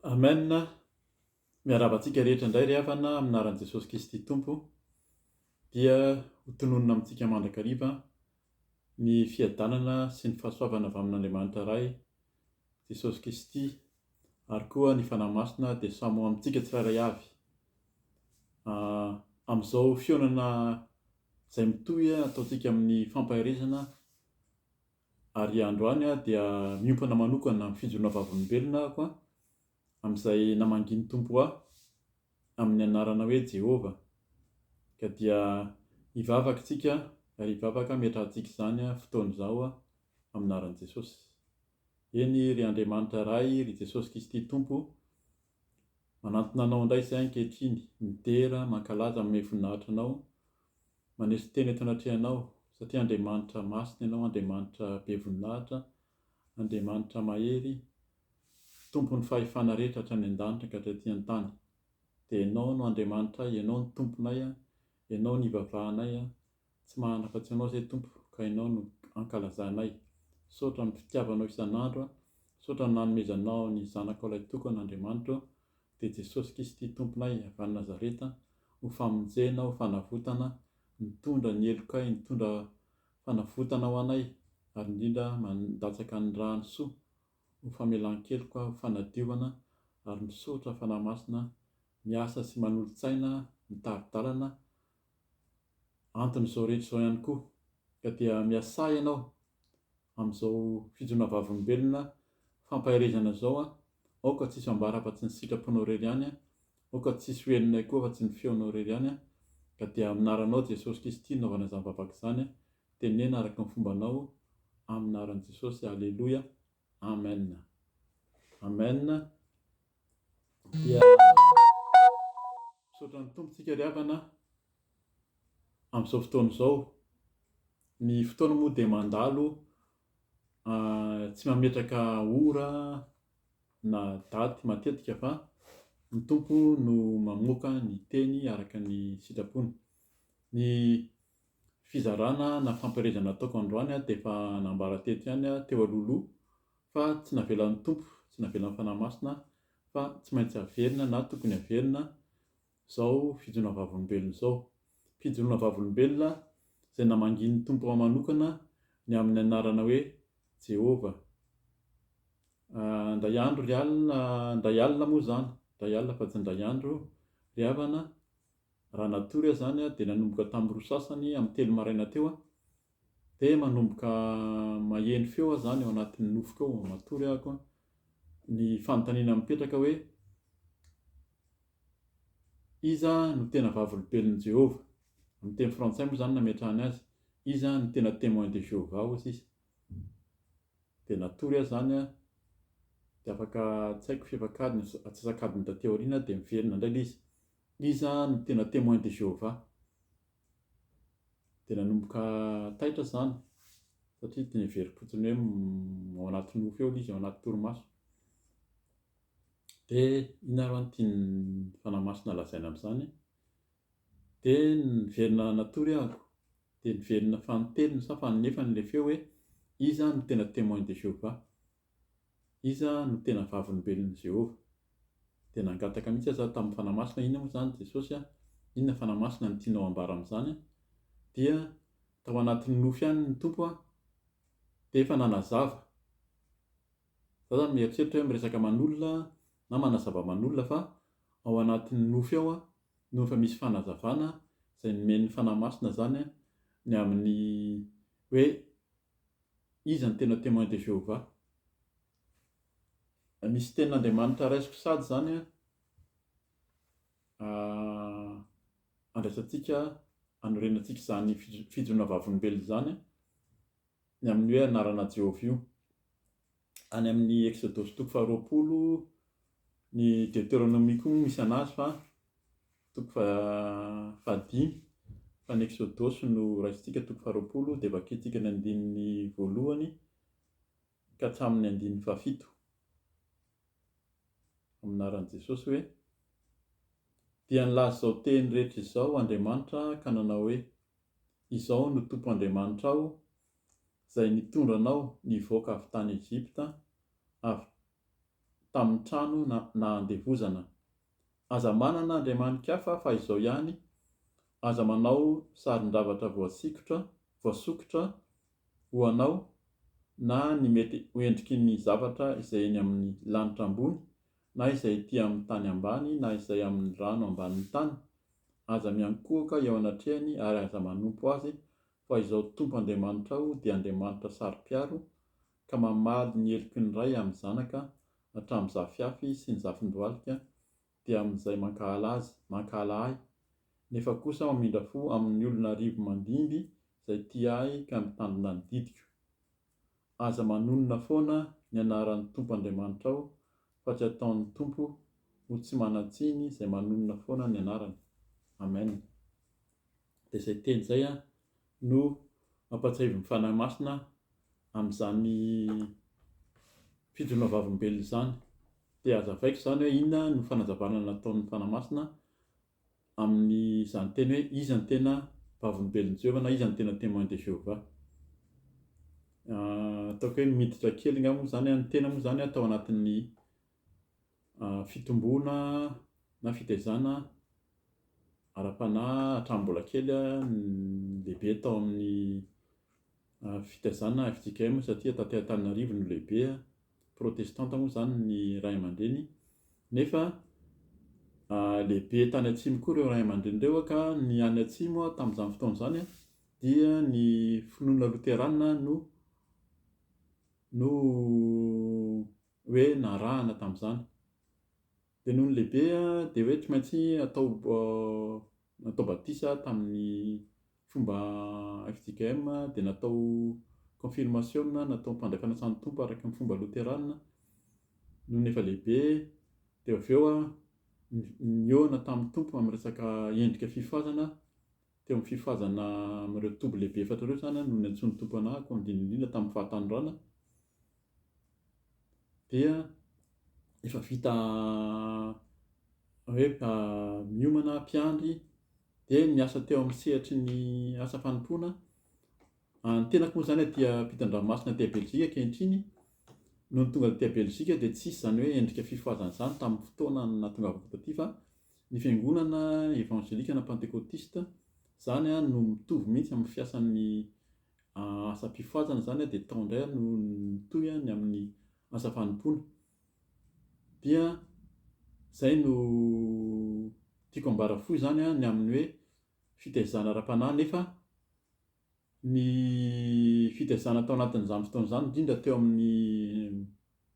Amen, miarahaba antsika rehetra indray ry havana amin'ny anaran'i Jesosy Kristy Tompo, dia ho tononina amintsika mandrakariva ny fiadanana sy ny fahasoavana avy amin'Andriamanitra Ray, Jesosy Kristy, ary koa ny Fanahy Masina dia samy ho amintsika tsirairay avy. Ah, amin'izao fihaonana izay mitohy ataontsika amin'ny fampaherezana, ary androany aho dia miompana manokana amin'ny fijoroana vavolombelona aho koa amin'izay namangian'ny Tompo ahy amin'ny anarana hoe Jehovah. Ka dia hivavaka isika ary hivavaka hametrahantsika izany fotoana izao amin'ny anaran'i Jesosy. Eny ry Andriamanitra Ray, ry Jesosy Kristy Tompo, Manantona anao indray izay ankehitriny, midera, mankalaza, manome voninahitra anao, maneso tena eto anatrehanao, satria Andriamanitra masina ianao, Andriamanitra be voninahitra, Andriamanitra mahery, Tompon'ny fahefana rehetra hatrany an-danitra ka hatraty an-tany. Dia ianao no Andriamanitray, ianao no Tomponay, ianao no ivavahanay, Tsy mahana afa-tsy Anao izay Tompo ka Ianao no ankalazanay. Misaotra amin'ny fitiavanao isan'andro aho. Misaotra ny nanomezanao ny Zanakao Ilay Tokana Andriamanitra ô. Dia Jesosy Kisty Tomponay avy any Nazareta, ho famonjena, ho fanavotana, nitondra ny helokay, nitondra fanavotana ho anay, ary indrindra mandatsaka ny rany soa ho famelan-keloka, ho fanadiovana, ary misaotra Fanahy Masina miasa sy manolo-tsaina, mitari-dalana, antony izao rehetra izao ihany koa ka dia miasà ianao amin'izao fijoroana vavolombelona fampaherezana izao an, aoka tsisy ambara afa tsy ny sitraponao irery ihany an, aoka tsisy ho henonay koa afa tsy ny feonao irery ihany an, ka dia amin'ny anaranao Jesosy Kristy naovana izany vavaka izany an, teneno araka ny fombanao amin'ny anaran'i Jesosy, aleloia. Amen Amen dia misaotra ny Tompo tsika ry havana amin'izao fotoana izao ny fotoana moa dia mandalo tsy mametraka ora na daty matetika fa ny Tompo no mamoaka ny teny araka ny sitrapony ny fizarana na fampielezana ataoko androany dia efa nambara teto ihany aho teo alohaloha fa tsy navelan'ny Tompo, tsy navelan'ny Fanahy Masina fa tsy maintsy haverina na tokony haverina izao fijoroana vavolombelona izao. Fijoroana vavolombelona izay namangian'ny Tompo ahy manokana ny amin'ny anarana hoe Jehovah. Ah, indray andro ry alina, indray alina moa izany, indray alina fa tsy indray andro ry havana, Raha natory aho izany dia nanomboka tamin'ny roa sasany amin'ny telo maraina teo aho dia manomboka maheno feo aho izany ao anatin'ny nofoko ao, matory ahako, ny fanontaniana mipetraka hoe, Iza no tena Vavolobelon'i Jehovah? Amin'ny teny frantsay moa izany no nametrahany azy. Iza no tena Témoin de Jéhovah? hoy sisa. Dia natory aho izany an, dia afaka, tsy haiko, fefak'adiny, antsasak'adiny taty aoriana aho dia niverina indray ilay izy. Iza no tena Témoin de Jéhovah? Dia nanomboka taitra izany satria dia niheverim-potsiny hoe ao anaty nofy eo ilay izy, ao anaty torimaso. Dia inona ary ho'a no tian'ny Fanahy Masina lazaina amin'izany? Dia niverina natory aho, dia niverina fanintelony sa faninefany ilay feo hoe iza no tena Témoin de Jéhovah? Iza no tena Vavolombelon'i Jehovah? Dia nangataka mihitsy aza aho tamin'ny fanahy masina. Inona moa izany, Jesosy a? Inona fanahy masina no tianao hambara amin'izany? Dia tao anatin'ny nofy ihany ny Tompo a! Dia efa nanazava. Izaho izany mieritreritra hoe miresaka aman'olona na manazava aman'olona fa ao anatin'ny nofy ao no efa misy fanazavana izay nomen'ny fanahy masina izany ny amin'ny hoe Iza ny tena Témoin de Jéhovah? Misy tenin'Andriamanitra raisiko sady izany andraisantsika, anorenantsika izany fijoroana vavolombelona izany ny amin'ny hoe anarana Jéhovah io. Any amin'ny Eksodosy toko faharoapolo, ny Deteronomia koa moa misy anazy fa toko fahadimy, fa ny Eksodosy no raisintsika toko faharoapolo dia vakintsika ny andininy voalohany ka hatramin'ny andininy fahafito. Amin'ny anaran'i Jesosy hoe, Dia nilaza izao teny rehetra izao Andriamanitra ka nanao hoe, Izao no Tompo Andriamanitrao, izay nitondra anao nivoaka avy tany Egypta, avy tamin'ny trano nahandevozana. Aza manana andriamani-kafa afa izao ihany, aza manao sarin-javatra voasikotra, voasokitra, ho anao, na ny mety ho endriky ny zavatra izay eny amin'ny lanitra ambony, na izay ety amin'ny tany ambany, na izay amin'ny rano ambanin'ny tany. Aza miankohoka eo anatrehany ary aza manompo azy Fa izao Tompo Andriamanitrao dia Andriamanitra saro-piaro, ka mamaly ny heloky ny ray amin'ny zanaka hatramin'ny zafiafy sy ny zafin-dohalika, dia amin'izay mankahala azy, mankahala ahy, nefa kosa mamindra fo amin'ny olona arivo mandimby izay tia ahy ka mitandrina ny didiko. Aza manonona foana ny anaran'ny Tompo Andriamanitrao, fa tsy ataon'ny Tompo ho tsy manan-tsiny izay manonona foana ny anarany. Amen. dia izay teny izay no mampahatsiahivo ny Fanahy Masina amin'izany fijoroana vavolombelona izany. Dia hazavaiko izany hoe inona no fanazavana nataon'ny Fanahy Masina amin'izany teny hoe iza no tena vavolombelon'i Jehovah na iza no tena Témoin de Jéhovah. Ataoko hoe miditra kely angamba moa izany, ny tena moa izany atao anatin'ny fitomboana na fitaizana ara-panahy hatramin'ny mbola kely aho ny lehibe tao amin'ny fitaizana FJKM satria taty Antananarivo no lehibe aho, protestanta moa izany ny ray aman-dreny nefa lehibe tany atsimo koa ireo ray aman-dreny ireo ka ny any atsimo aho tamin'izany fotoana izany dia ny finoana loterana no no hoe narahana tamin'izany. Dia nony lehibe aho dia hoe tsy maintsy atao natao batisa aho tamin'ny fomba fjkm dia natao konfirmasiona natao ny fanjakana asan'ny Tompo araka ny fomba loterana nony efa lehibe dia avy eo aho nihaona tamin'ny Tompo amin'ny resaka endrika fifazana Teo amin'ny fifazana amin'ireo toby lehibe efatra ireo izany no niantsoan'ny Tompo anah ko handinina indrindra tamin'ny fahatanoranana dia efa vita hoe miomana mpiandry dia niasa teo amin'ny sehatry ny asa fanompoana A Ny tenako moa izany a dia mpitan-dranomasina aty Belzika ankehitriny. Nony tonga taty Belzika dia tsisy izany hoe endrika fifazana izany tamin'ny fotoana nahatongavako taty fa ny fiangonana evanjelika na pantekotista izany a no mitovy mihitsy amin'ny fiasan'ny asam-pifazana izany a dia tao indray aho no nitohy a ny amin'ny asa fanompoana. Dia izay no tiako ambara fohy izany a ny amin'ny hoe fitaizana ara-panahy nefa ny fitaizana tao anatin'izany fotoana izany, indrindra teo amin'ny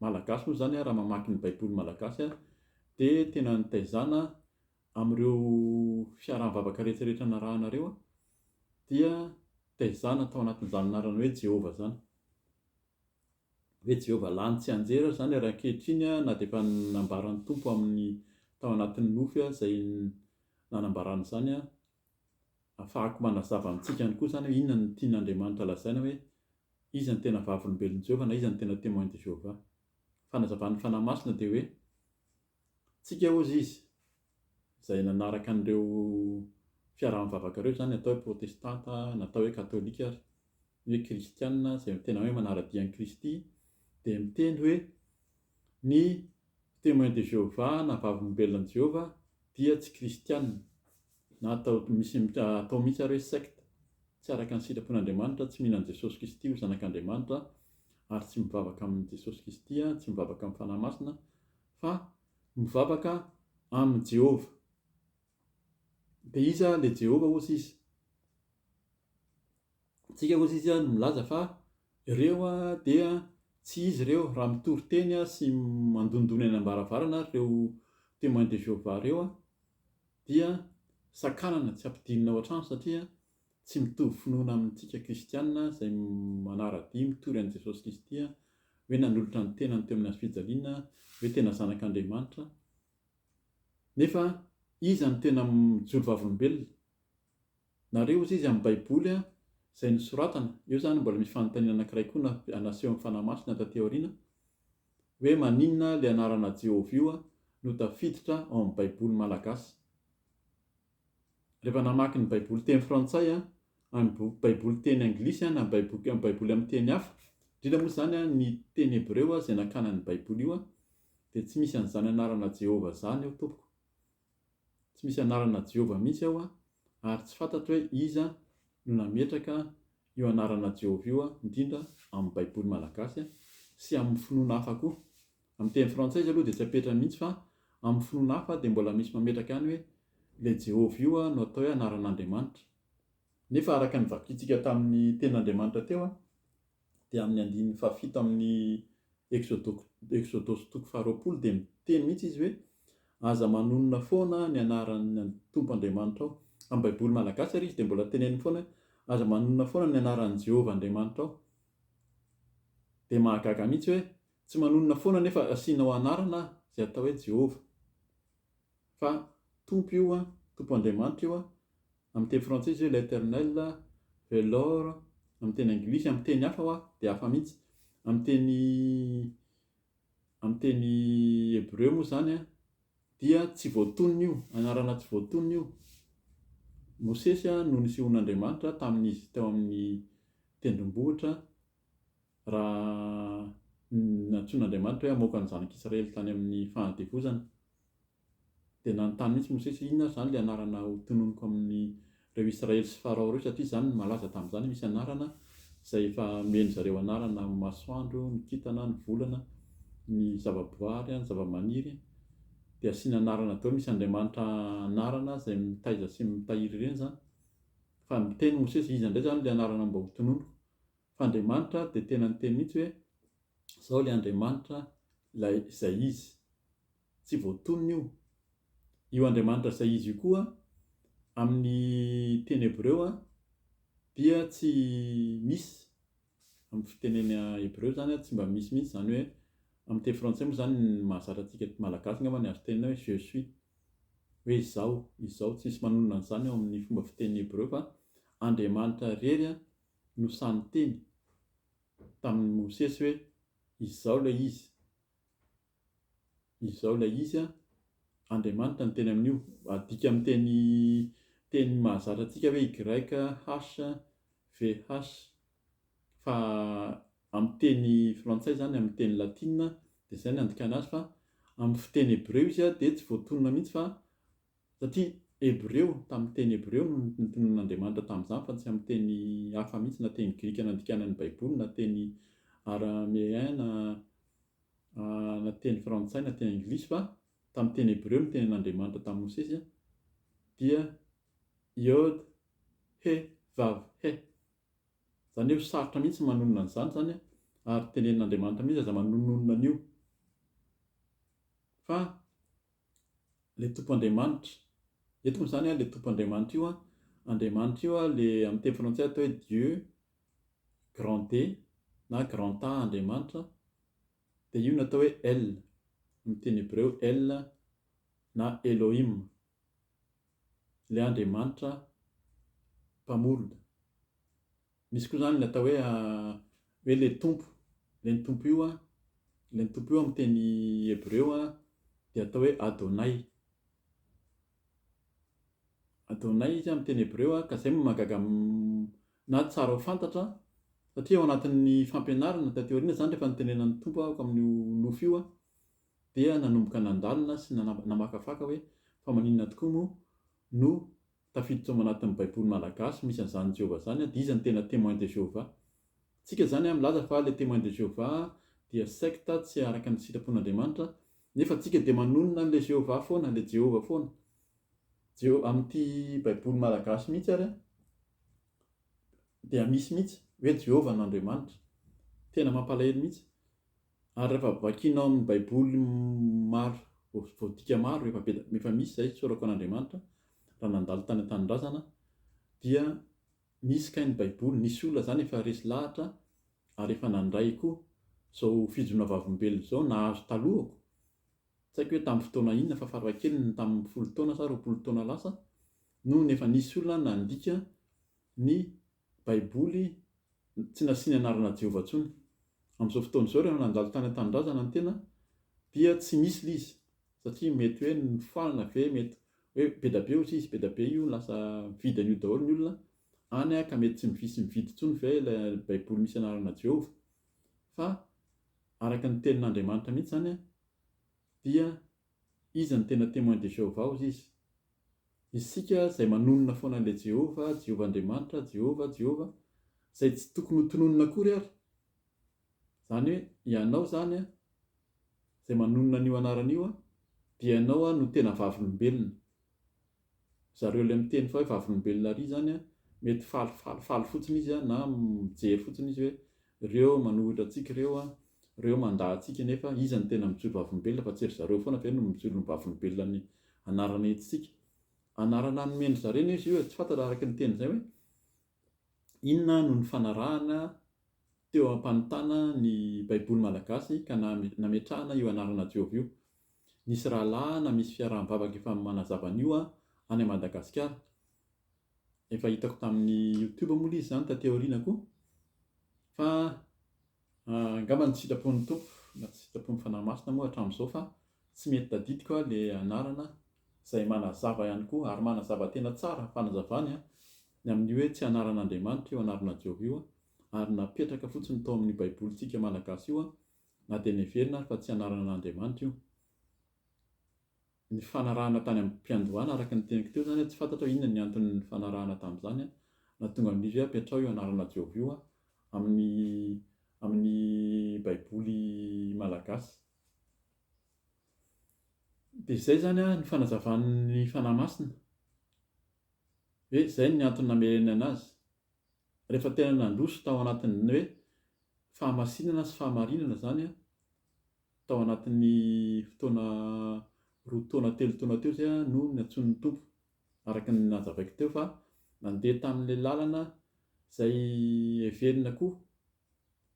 Malagasy moa izany, raha mamaky ny Baiboly malagasy, dia tena nitaizana amin'ireo fiaraha-mivavaka rehetrarehetra narahanareo, dia taizana tao anatin'izany anarana hoe Jehovah izany. Hoe Jehovah lany tsianjery aza izany ary ankehitriny na dia efa nambaran'ny Tompo amin'ny tao anatin'ny nofy izay nanambarany izany, Ahafahako manazava amintsika ihany koa izany hoe inona no tian'Andriamanitra lazaina hoe iza no tena Vavolombelon'i Jehovah na iza no tena Témoin de Jéhovah. Ny fanazavan'ny Fanahy Masina dia hoe, Tsika hozy izy, izay nanaraka an'ireo fiaraha-mivavaka ireo izany, atao hoe Protestanta na atao hoe Katolika ary, ny hoe Kristiana izay tena hoe manara-dia an'i Kristy, dia miteny hoe ny Témoin de Jéhovah na Vavolombelonan'i Jehovah dia tsy Kristiana. Na atao misy atao mihitsy ary hoe secte, tsy araka ny sitrapon'Andriamanitra, tsy mino an'i Jesosy Kristy ho Zanak'Andriamanitra, ary tsy mivavaka amin'i Jesosy Kristy, tsy mivavaka amin'ny Fanahy Masina, fa mivavaka amin'i Jehovah. Dia iza ilay Jehovah hozy izy? Tsika hozy izy no milaza fa ireo dia tsy izy ireo raha mitory teny sy mandondona eny am-baravarana ary ireo Témoins de Jéhovah ireo dia sakanana tsy ampidinina ao an-trano satria tsy mitovy finoana amintsika kristiana izay manara-dia mitory an'i Jesosy Kristy hoe nanolotra ny tenany teo amin'ny hazofijaliana hoe tena zanak'Andriamanitra nefa iza no tena mijoro vavolombelona Nareo ozy izy amin'ny baiboly a izay nosoratana, eo zany mbola misy fanontaniana anakiray koa na naseho amin'ny fanahy masina taty aoriana hoe maninona le anarana Jehovah io a no tafiditra ao amin'ny baiboly malagasy? Rehefa namaky ny baiboly teny frantsay a, any boky baiboly teny anglisy a na baiboky am baiboly amin'ny teny hafa, indrindra moa zany a ny teny hebreo a izay nakana an'io baiboly io a dia tsy misy an'izany anarana Jehovah zany eo tompoko. Tsy misy anarana Jehovah mihitsy ao a, ary tsy fantatro hoe iza no nametraka io anarana Jehovah io a, indrindra amin'ny baiboly malagasy a, sy amin'ny finoana hafa koa. Amin'ny teny frantsay izy aloha dia tsy apetrany mihitsy fa amin'ny finoana hafa dia mbola misy mametraka ihany hoe ilay Jehovah io a no atao hoe anaran'Andriamanitra. Nefa araka ny vakintsika tamin'ny tenin'Andriamanitra teo a, dia amin'ny andininy fahafito amin'ny Eksodosy toko faharoapolo dia miteny mihitsy izy hoe, Aza manonona foana ny anaran'ny Tompo Andriamanitrao. Amin'ny Baiboly malagasy ary izy dia mbola teneniny foana hoe, Aza manonona foana ny anaran'i Jehovah Andriamanitrao. Dia mahagaga mihitsy hoe tsy manonona foana nefa asianao anarana aho, izay atao hoe Jehovah. Fa Tompo io an, Tompo Andriamanitra io an, Amin'ny teny frantsay izy hoe l'Eternel, ve l'or, amin'ny teny anglisy, amin'ny teny hafa hoa dia hafa mihitsy. Amin'ny teny amin'ny teny hebreo moa izany dia tsy voatonona io, anarana tsy voatonona io. Mosesy no nisehoan'Andriamanitra tamin'izy teo amin'ny tendrombohitra raha nantsoin'Andriamanitra hoe hamoaka ny zanak'Israely tany amin'ny fahandevozana. Dia nanontany mihitsy Mosesy hoe, Inona ary izany ilay anarana hotononiko amin'ireo Israely sy Farao ireo, satria izany no malaza tamin'izany, misy anarana izay efa nomen-dry zareo anarana amin'ny masoandro, ny kintana, ny volana, ny zavaboary, ny zavamaniry, dia asiana anarana daholo, misy andriamanitra anarana izay mitaiza sy mitahiry ireny izany. Fa niteny Mosesy hoe, Iza indray izany ilay anarana mba hotononiko? Fa Andriamanitra dia tena niteny mihitsy hoe, Izaho ilay Andriamanitra, ilay izay izy. Tsy voatonona io. Io Andriamanitra izay izy io koa, amin'ny teny hebreo, dia tsy misy. Amin'ny fitenena hebreo izany tsy mba misy mihitsy izany hoe, amin'ny teny frantsay moa izany ny mahazatra antsika malagasy angamba ny azo tenenina hoe je suis, hoe izaho, izao. Tsy misy manonona an'izany ao amin'ny fomba fiteny hebreo fa Andriamanitra irery no sahy niteny tamin'i Mosesy hoe izao ilay izy. Izao ilay izy an, Andriamanitra no teny amin'io. Adika amin'ny teny teny mahazatra antsika hoe YHVH. Fa amin'ny teny frantsay izany, amin'ny teny latina dia izay no andikana azy fa amin'ny fiteny hebreo izy an dia tsy voatonona mihitsy fa satria hebreo, tamin'ny teny hebreo no notonon'Andriamanitra tamin'izany fa tsy amin'ny teny hafa mihitsy na teny grika nandikana ny baiboly na teny arameana. na teny frantsay na teny anglisy fa tamin'ny teny hebreo ny tenin'Andriamanitra tamin'i Mosesy dia Yod He Vav He. Izany hoe sarotra mihitsy ny manonona an'izany izany ary tenenin'Andriamanitra mihitsy aza manononona an'io. Fa le Tompo Andriamanitra, eto moa izany le Tompo Andriamanitra io, Andriamanitra io le amin'ny teny frantsay atao hoe Dieu, grand E na grand A Andriamanitra dia io no atao hoe El, amin'ny teny hebreo El na Elohim, ilay Andriamanitra Mpamorona. Misy koa izany ny atao hoe hoe ilay Tompo, ilay ny Tompo io, ilay ny Tompo io amin'ny teny hebreo dia atao hoe Adonay. Adonay izy amin'ny teny hebreo ka izay no mahagaga na tsara ho fantatra satria ao anatin'ny fampianarana taty aoriana izany rehefa nitenenan'ny Tompo aho amin'io nofy io dia nanomboka nandalina sy namakafaka hoe fa maninona tokoa moa no tafiditra ao anatin'ny baiboly malagasy misy an'izany Jehovah izany dia iza no tena Témoin de Jéhovah? tsika izany milaza fa ilay Témoin de Jéhovah dia secte tsy araka ny sitrapon'Andriamanitra nefa tsika dia manonona an'ilay Jéhovah foana, ilay Jehovah foana. Jereo amin'ity Baiboly malagasy mihitsy ary an, dia misy mihitsy hoe Jehovah no Andriamanitra. Tena mampalahelo mihitsy. Ary rehefa vakianao amin'ny Baiboly maro, voadika maro, efa be, efa misy izay sorako an'Andriamanitra, raha nandalo tany an-tanindrazana, dia misy kay ny Baiboly, nisy olona izany efa resy lahatra ary efa nandray koa izao fijoroana vavolombelona izao nahazo talohako. Tsy haiko hoe tamin'ny fotoana inona fa farafahakeliny ny tamin'ny folo taona sa roapolo taona lasa no efa nisy olona nandika ny Baiboly tsy nasiany anarana Jehovah intsony. Amin'izao fotoana izao, raha nandalo tany an-tanindrazana ny tena, dia tsy misy ilay izy, satria mety hoe nofoanana ve, mety hoe be dia be hozy izy, be dia be io, lasa mividy an'io daholo ny olona any ka mety tsy misy mividy intsony ve ilay Baiboly misy anarana Jehovah. Fa. Araka ny Tenin'Andriamanitra mihitsy izany dia iza no tena Témoin de Jéhovah hozy izy? Isika izay manonona foana an'ilay Jehovah, Jehovah Andriamanitra, Jehovah, Jehovah, izay tsy tokony ho tononina akory ary. Izany hoe ianao izany izay manonona an'io anarana io dia ianao no tena vavolombelona. zareo ilay miteny fa hoe vavolombelona ary zany an, mety faly faly faly fotsiny izy an, na mijery fotsiny izy hoe reo manohitra antsika ireo an, reo mandà antsika nefa iza no tena mijoro vavolombelona fa tsy ry zareo foana ve no mijoro ny vavolombelona ny anarana entintsika? anarana nomendry zareo anie izy io e, tsy fantatra araka ny teniny zay hoe. Inona no nifanarahana teo am-panotana ny Baiboly malagasy ka nametrahana io anarana Jehovah io? Nisy rahalahy na misy fiaraha-mivavaka efa manazava an'io any Madagasikara. Efa hitako tamin'ny Youtube moa ilay izy izany taty aoriana koa. Fa Angamba ny sitrapon'ny Tompo na tsy sitrapon'ny Fanahy Masina moa hatramin'izao fa tsy mety tadidiko aho ilay anarana izay manazava ihany koa ary manazava tena tsara ny fanazavany ny amin'ny hoe tsy anaran'Andriamanitra io anarana Jeho io ary napetraka fotsiny tao amin'ny baibolintsika malagasy io na dia neverina ary fa tsy anaran'Andriamanitra io nifanarahana tany am-piandohana araka ny teniko teo izany, tsy fantatro hoe inona ny antony nifanarahana tamin'izany an, na tonga amin'izy hoe apetraho io anarana Jehovah io an, amin'ny amin'ny baiboly malagasy. Dia izay izany an ny fanazavan'ny Fanahy Masina, hoe izay ny antony namerenana azy. Rehefa tena nandroso tao anatin'ny hoe fahamasinana sy fahamarinana izany an, Tao anatin'ny fotoana roa taona telo taona teo izay aho no nantsoin'ny Tompo, araka ny nazavaiko teo fa nandeha tamin'ilay lalana izay heverina koa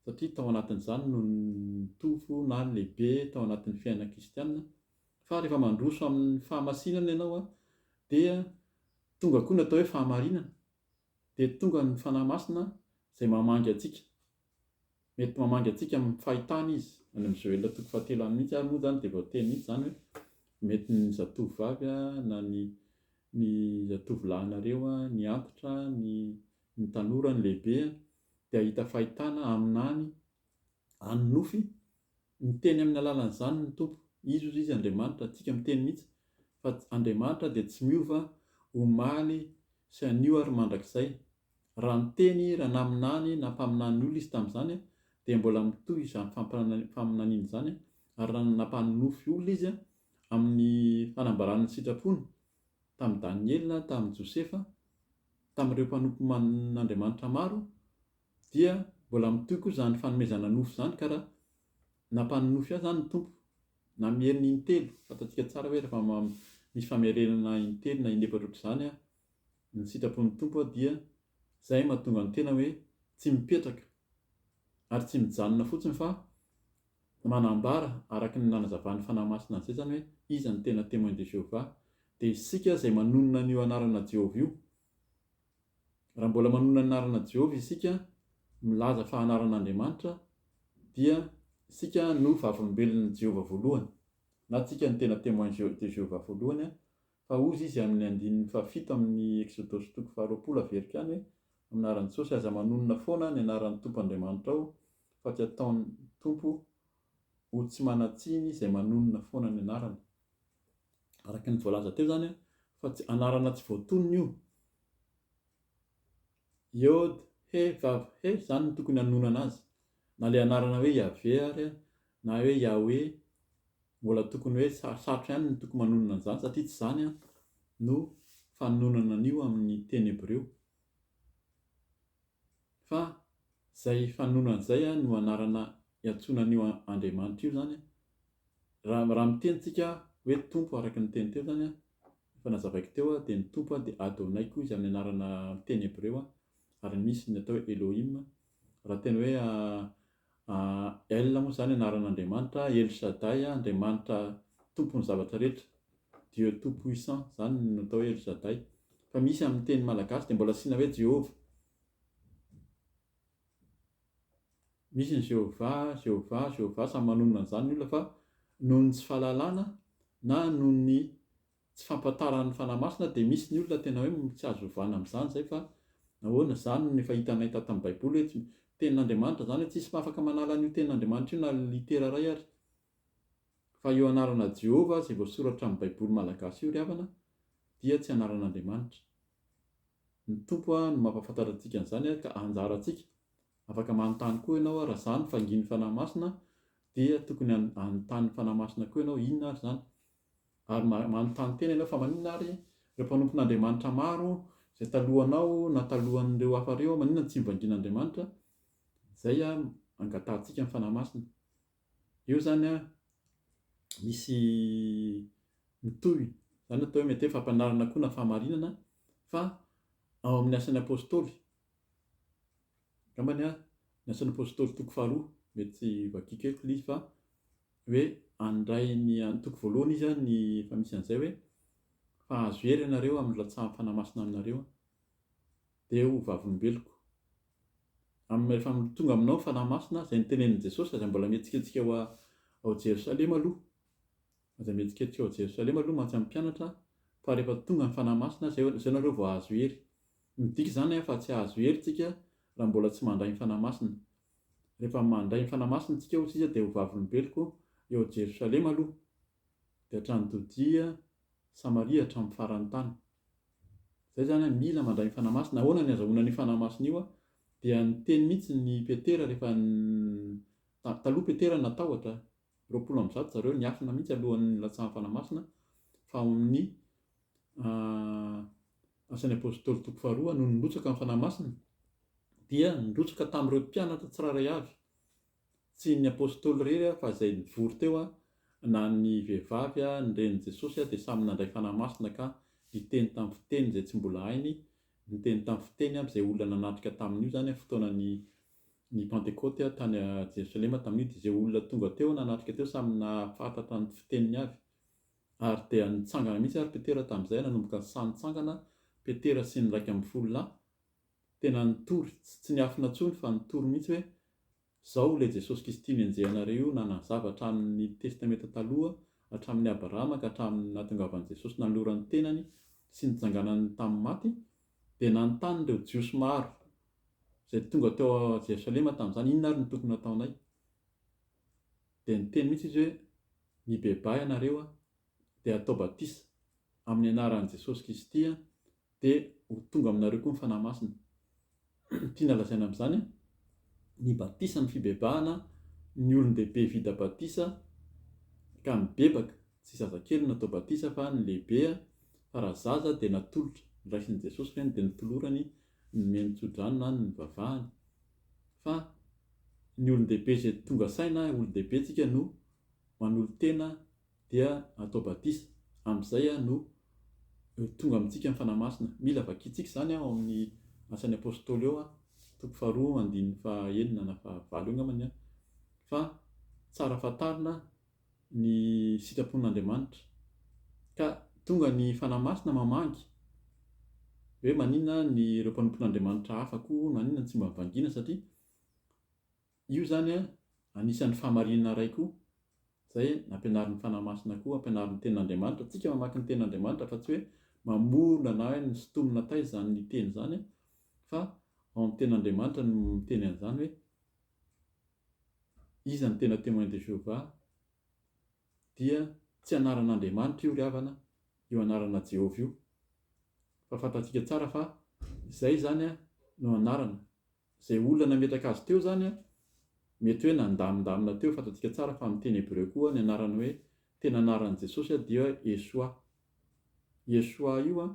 satria tao anatin'izany no nitovy na lehibe tao anatin'ny fiainana kristiana fa rehefa mandroso amin'ny fahamasinana ianao dia tonga koa ny atao hoe fahamarinana dia tonga ny Fanahy Masina izay mamangy antsika. Mety mamangy antsika amin'ny fahitana Izy. Any amin'ny Joela toko fahatelo any mihitsy ary moa izany dia voateny mihitsy izany hoe mety ny zatovovavy na ny ny zatovolahinareo ny antitra, ny ny tanora, ny lehibe dia hahita fahitana amin'any an'ny nofy Miteny amin'ny alalan'izany ny Tompo. Izy hozy izy Andriamanitra, antsika miteny mihitsy fa Andriamanitra dia tsy miova omaly sy anio ary mandrakizay. Raha niteny raha naminany na mpaminany olona izy tamin'izany dia mbola mitohy izany faminaniana izany ary raha nampanonofy olona izy amin'ny fanambarana ny sitrapony tamin'i Daniela, tamin'i Josefa, tamin'ireo mpanompon'Andriamanitra maro dia mbola mitohy koa izany fanomezana nofo izany ka raha nampanonofy ahy izany ny Tompo na miheriny intelo, fantatsika tsara hoe rehefa misy famerenana intelo na in'efatra ohatr'izany ny sitrapon'ny Tompo dia izay no mahatonga ny tena hoe tsy mipetraka ary tsy mijanona fotsiny fa manambara araka ny nanazavan'ny Fanahy Masina an'izay izany hoe iza no tena Témoin de Jéhovah dia isika izay manonona an'io anarana Jehovah io Raha mbola manonona ny anaran'i Jehovah isika, milaza fa anaran'Andriamanitra, dia isika no Vavolombelon'i Jehovah voalohany, na isika no tena Témoin de Jéhovah voalohany, fa hozy izy amin'ny andininy fahafito amin'ny Eksodosy toko faharoapolo averiko any hoe, Amin'ny anaran'i Jesosy, aza manonona foana ny anaran'ny Tompo Andriamanitrao, fa tsy ataon'ny Tompo ho tsy manan-tsiny izay manonona foana ny anarany. araka ny voalaza teo zany fa tsy anarana tsy voatonona io. Yod he vav he zany no tokony hanonana azy. Na le anarana hoe Yaveh ary na hoe Yahweh mbola tokony hoe sarosarotra ihany ny tokony manonona an'izany satria tsy zany no fanononana an'io amin'ny teny hebreo Fa zay fanononana zay an no anarana iantsoana an'io Andriamanitra io zany an, raha raha miteny tsika hoe Tompo araka ny teny teo zany an, efa nazavaiko teo an, dia ny Tompo an dia Adonai koa izy amin'ny anarana amin'ny teny Hebreo an, ary misy ny atao hoe Elohim, raha tena hoe El moa izany anaran'Andriamanitra, El Shaddai, Andriamanitra tompon'ny zavatra rehetra, Dieu tout puissant, izany no atao hoe El Shaddai. Fa misy amin'ny teny malagasy dia mbola asiana hoe Jehovah. Misy ny Jehovah, Jehovah, Jehovah, samy manonona an'izany ny olona fa noho ny tsy fahalalana na noho ny Tsy fampatarany fanahy masina dia misy ny olona tena hoe tsy azo ovana amin'izany izay fa ahoana izany no efa hitanay tato amin'ny baiboly hoe tsy tenin'Andriamanitra izany hoe tsy hisy afaka manala an'io tenin'Andriamanitra io na litera iray ary fa io anarana Jehovah izay voasoratra amin'ny baiboly malagasy io ry havana dia tsy anaran'Andriamanitra ny Tompo a no mampafantatra antsika an'izany ary ka anjarantsika afaka manontany koa ianao raha izany fa ngin'ny fanahy masina dia tokony hanontany ny fanahy masina koa ianao inona ary izany Ary manontany tena ianao, Fa maninona àry ireo mpanompon'Andriamanitra maro izay talohanao na talohan'ireo hafa ireo, maninona no tsy novangian'Andriamanitra? Izay angatahantsika ny Fanahy Masina. Eo izany misy mitohy, izany atao hoe mety hoe fampianarana koa na fahamarinana fa ao amin'ny Asan'ny Apôstôly, angambany Ny Asan'ny Apôstôly toko faharoa, mety vakiako eto ilay izy fa. hoe handray ny antoko voalohany izy an ny efa misy an'izay hoe fa azo hery ianareo amin'ny rantsahan'ny Fanahy Masina aminareo an dia ho vavolombeloko amin'ny rehefa tonga aminao ny Fanahy Masina izay notenenin'i Jesosy aza mbola mihetsiketsika ao ao Jerosalema aloha aza mihetsiketsika ao Jerosalema aloha mantsy amin'ny mpianatra fa rehefa tonga ny Fanahy Masina izay izay nareo vao azo hery midika izany an fa tsy azo hery tsika raha mbola tsy mandray ny Fanahy Masina Rehefa mandray ny Fanahy Masina isika hoy Izy dia ho vavolombeloko eo Jerosalema aloha, dia hatrany Jodia, Samaria hatramin'ny faran'ny tany. Izay izany mila mandray ny Fanahy Masina. Ahoana ny azahoana an'io Fanahy Masina io? Dia niteny mihitsy ny Petera rehefa taloha Petera natahotra, roapolo amby zato zareo niafina mihitsy alohan'ny nilatsahan'ny Fanahy Masina fa amin'ny Asan'ny Apôstôly toko faharoa, nony nirotsaka ny Fanahy Masina dia nirotsaka tamin'ireo mpianatra tsirairay avy, tsy ny Apôstôly irery fa izay nivory teo na ny vehivavy ny renin'i Jesosy dia samy nandray Fanahy Masina ka niteny tamin'ny fiteny izay tsy mbola hainy, niteny tamin'ny fiteny aby izay olona nanatrika tamin'io izany amin'ny fotoanan'ny ny Pantekôty tany Jerosalema tamin'io dia izay olona tonga teo nanatrika teo samy nahafantatra ny fiteniny avy. Ary dia nitsangana mihitsy ary Petera tamin'izay, nanomboka ny saha nitsangana Petera sy ny iraika ambin'ny folo lahy, tena nitory, tsy niafina intsony fa nitory mihitsy hoe, Izao ilay Jesosy Kristy nenjehanareo io nanazava hatramin'ny Testamenta Taloha, hatramin'i Abrahama ka hatramin'ny nahatongavan'i Jesosy nanolorany ny tenany sy nitsanganany tamin'ny maty, dia nanontany ireo Jiosy maro izay tonga teo Jerosalema tamin'izany, Inona ary no tokony hataonay? Dia niteny mihitsy izy hoe, Mibebaha ianareo dia atao batisa amin'ny anaran'i Jesosy Kisty dia ho tonga aminareo koa ny Fanahy Masina. Tiana lazaina amin'izany ny batisa ny fibebahana ny olon-dehibe vita batisa ka mibebaka, tsy zazakely no natao batisa fa ny lehibe fa raha zaza dia natolotra, niraisin'i Jesosy ireny dia notolorany nomeny tsodrano na nivavahany. fa ny olon-dehibe izay tonga saina hoe olon-dehibe tsika no manolo-tena dia atao batisa, amin'izay no tonga amintsika ny Fanahy Masina. Mila vakintsika izany ao amin'ny Asan'ny Apostoly ao, toko faharoa andininy fahenina na fahavalo eo angambany, fa tsara fantarina, ny sitrapon'Andriamanitra. Ka tonga ny Fanahy Masina mamangy hoe maninona ny ireo mpanompon'Andriamanitra hafa koa maninona no tsy mba vangiana satria io izany anisan'ny fahamarinana iray koa izay nampianarin'ny Fanahy Masina koa ampianarin'ny tenin'Andriamanitra tsika mamaky ny tenin'Andriamanitra fa tsy hoe mamorona na hoe misintomina taiza izany ny teny izany fa ao amin'ny tenin'Andriamanitra no miteny an'izany hoe Iza no tena Témoin de Jéhovah? dia tsy anaran'Andriamanitra io ry havana, io anarana Jehovah io. Fa fantatsika tsara fa izay izany no anarana. Izay olona nametraka azy teo izany mety hoe nandamindamina teo, fantatsika tsara fa amin'ny teny hebreo koa ny anarany hoe tena anaran'i Jesosy dia Yeshua. Yeshua io.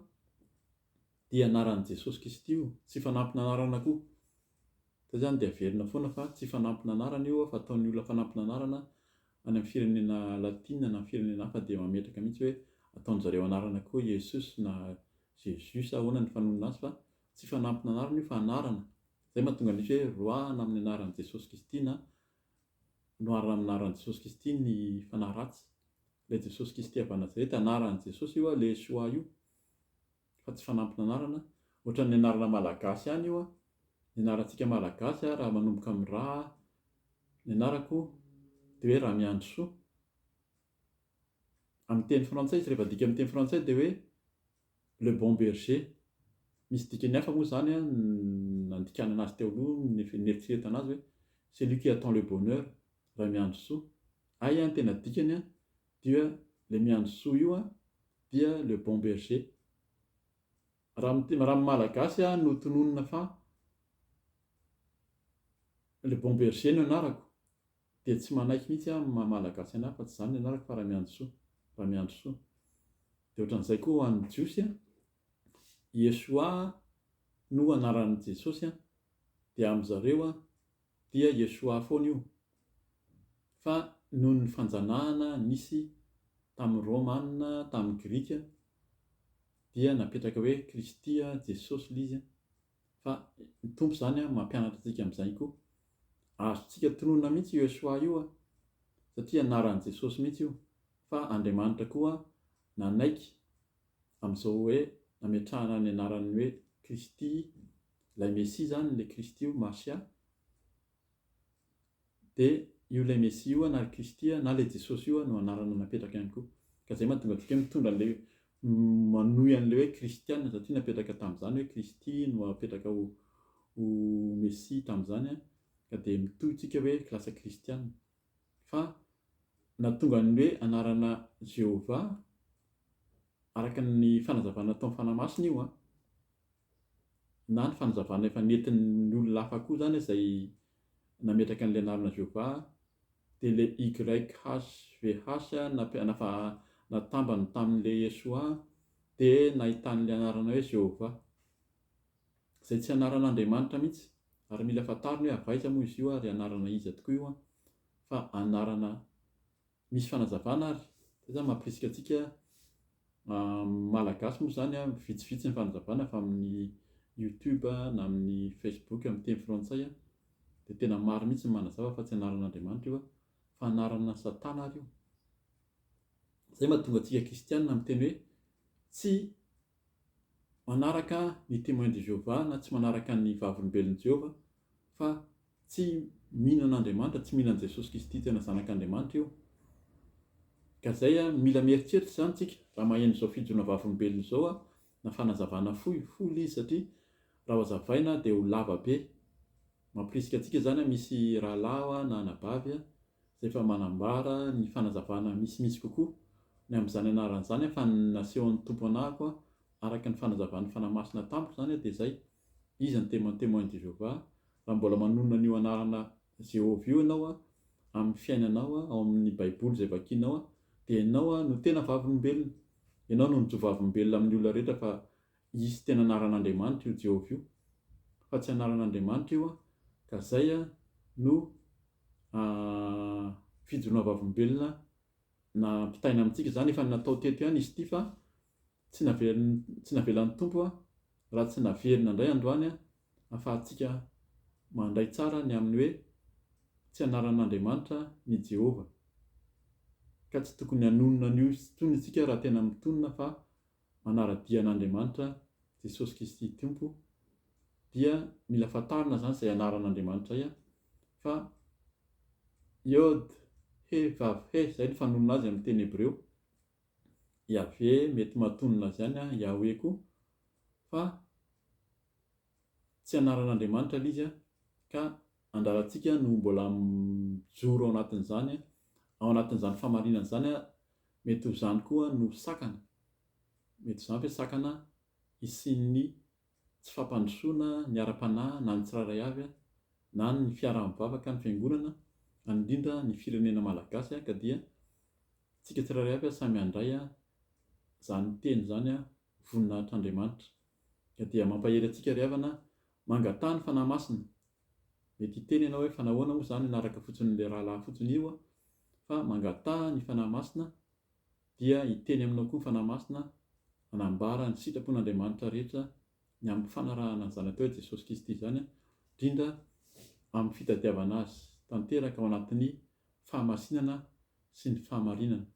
Dia anaran'i Jesosy Kristy io, tsy fanampin'anarana koa. Izay izany dia averina foana fa tsy fanampin'anarana io fa ataon'ny olona fanampin'anarana any amin'ny firenena latina na firenena hafa dia mametraka mihitsy hoe ataon'ny zareo anarana koa Yesus na Jesus sa ahoana ny fanonona azy fa tsy fanampin'anarana io fa anarana. Izay mahatonga misy hoe roahana amin'ny anaran'i Jesosy Kristy na noharana amin'ny anaran'i Jesosy Kristy ny fanahy ratsy. Ilay Jesosy Kristy avy any Nazareta, anaran'i Jesosy io Yeshua io. fa tsy fanampin'anarana, ohatran'ny anarana malagasy ihany io an! ny anarantsika malagasy an, raha manomboka amin'ny ra ny anarako dia hoe Ramiandrisoa, amin'ny teny frantsay izy rehefa adika amin'ny teny frantsay dia hoe Le Bon Berger, misy dikany hafa moa izany an, nandikana anazy teo aloha, nieritreretana azy hoe celui qui attend le bonheur, Ramiandrisoa, hay an, ny tena dikany an, dia le miandry soa io an, dia le bon berger. Raha ny raha ny malagasy aho no tononina fa le bon berger no anarako dia tsy manaiky mihitsy aho ny maha malagasy an'ahy fa tsy izany ny anarako fa Ramiandrisoa, Ramiandrisoa. Dia ohatran'izay koa ho an'ny jiosy an, Yeshua no anaran'i Jesosy an, dia am'zareo an, Dia Yeshua foana io. Fa noho ny fanjanahana nisy tamin'ny Romana, tamin'ny Grika, dia napetraka hoe Kristy, Jesosy, lay izy, fa ny Tompo izany mampianatra antsika amin'izay koa. Azontsika tononina mihitsy io Yeshua io, satria anaran'i Jesosy mihitsy io, fa Andriamanitra koa nanaiky amin'izao hoe nametrahana ny anarany hoe Kristy ilay Mesia izany, ilay Kristy io, Mashia, dia io ilay Mesia io na ilay Kristy na ilay Jesosy io no anarana napetraka ihany koa. Ka izay mahatonga antsika hoe mitondra an'ilay manohy an'ilay hoe Kristiana satria napetraka tamin'izany hoe Kristy no apetraka ho, ho Mesia tamin'izany ka dia mitohy tsika hoe lasa Kristiana. Fa nahatonga ny hoe anarana Jehovah araka ny fanazavana nataon'ny Fanahy Masina io an. na ny fanazavana efa nentin'ny olona hafa koa izany izay nametraka an'ilay anarana Jehovah, dia ilay YHVH nampian nafa natambany tamin'ilay Yeshua dia nahitany ilay anarana hoe Jehovah, izay tsy anaran'Andriamanitra mihitsy, ary mila fantariny hoe avy aiza moa izy io ary anarana iza tokoa io an, fa anarana Misy fanazavana ary, zay zany mampirisika antsika Malagasy moa zany vitsivitsy ny fanazavana avy amin'ny youtube na amin'ny facebook amin'ny teny frantsay dia tena maro mihitsy ny manazava fa tsy anaran'Andriamanitra io fa anarana satana ary io, zay mahatonga antsika kristiana miteny hoe tsy manaraka ny Témoins de Jéhovah na tsy manaraka ny Vavolombelon'i Jehovah fa tsy mino an'Andriamanitra, tsy mino an'i Jesosy Kristy tena Zanak'Andriamanitra io. Ka izay, mila mieritreritra izany isika raha maheno izao fijoroana Vavolombelona izao na fanazavana fohy, full, izy satria raha hazavaina dia ho lava be. Mampirisika antsika izany, misy rahalahy na anabavy izay efa manambara ny fanazavana misimisy kokoa ny amin'izany anarana izany fa ny nasehon'ny Tompo anahako araka ny fanazavan'ny Fanahy Masina tamiko izany dia izay, Iza no te man témoin de Jéhovah? Raha mbola manonona an'io anarana Jéhovah io ianao amin'ny fiainanao ao amin'ny Baiboly izay vakianao dia ianao no tena vavolombelona, ianao no mijovavolombelona amin'ny olona rehetra fa Izy tena anaran'Andriamanitra io Jehovah io fa tsy anaran'Andriamanitra io an, ka zay an no fijoroana vavolombelona nampitaina amintsika, zany efa natao teto ihany izy ity fa tsy navelan'ny tsy navelan'ny Tompo an raha tsy naverina indray androany an afahantsika mandray tsara ny amin'ny hoe tsy anaran'Andriamanitra ny Jehovah ka tsy tokony hanonona an'io intsony isika raha tena mitonona fa manara-dia an'Andriamanitra, Jesosy Kristy Tompo, dia mila fantarina izany izay anaran'Andriamanitra ia, fa Yod, He, Vav, He, izay no fanonona azy amin'ny teny hebreo. Yaveh, mety mahatonona azy ihany an, Yahweh koa, fa tsy anaran'Andriamanitra ilay izy, ka andrarantsika no mbola mijoro ao anatin'izany, ao anatin'izany famarinana izany, Mety ho izany koa no sakana. Mety izany ve sakana hisian'ny tsy fampandrosoana ny ara-panahy na ny tsirairay avy na ny fiaraha-mivavaka ny fiangonana any indrindra ny firenena malagasy ka dia tsika tsirairay avy samy handray izany teny izany voninahitr'Andriamanitra ka dia mampahery antsika ry havana mangatà ny fanahy masina Mety hiteny ianao hoe fa nahoana moa zany hanaraka fotsiny le rahalahy fotsiny io aho fa mangataha ny Fanahy Masina dia hiteny aminao koa ny Fanahy Masina hanambara ny sitrapon'Andriamanitra rehetra ny amin'ny fanarahana ny Zanak'i Rainy Jesosy Kristy izany indrindra amin'ny fitadiavana Azy tanteraka ao anatin'ny fahamasinana sy ny fahamarinana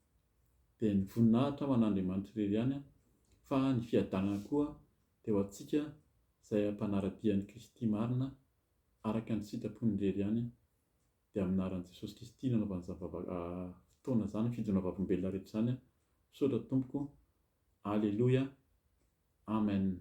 dia ny voninahitra ho an'Andriamanitra irery ihany fa ny fiadanana koa dia ho antsika izay ampanara-dia an'i Kristy marina araka ny sitrapony irery ihany dia amin'ny anaran'i Jesosy Kristy nanaovany izany fotoana izany fidona vavolombelona rehetra izany misaotra tompoko Aleloia Amen.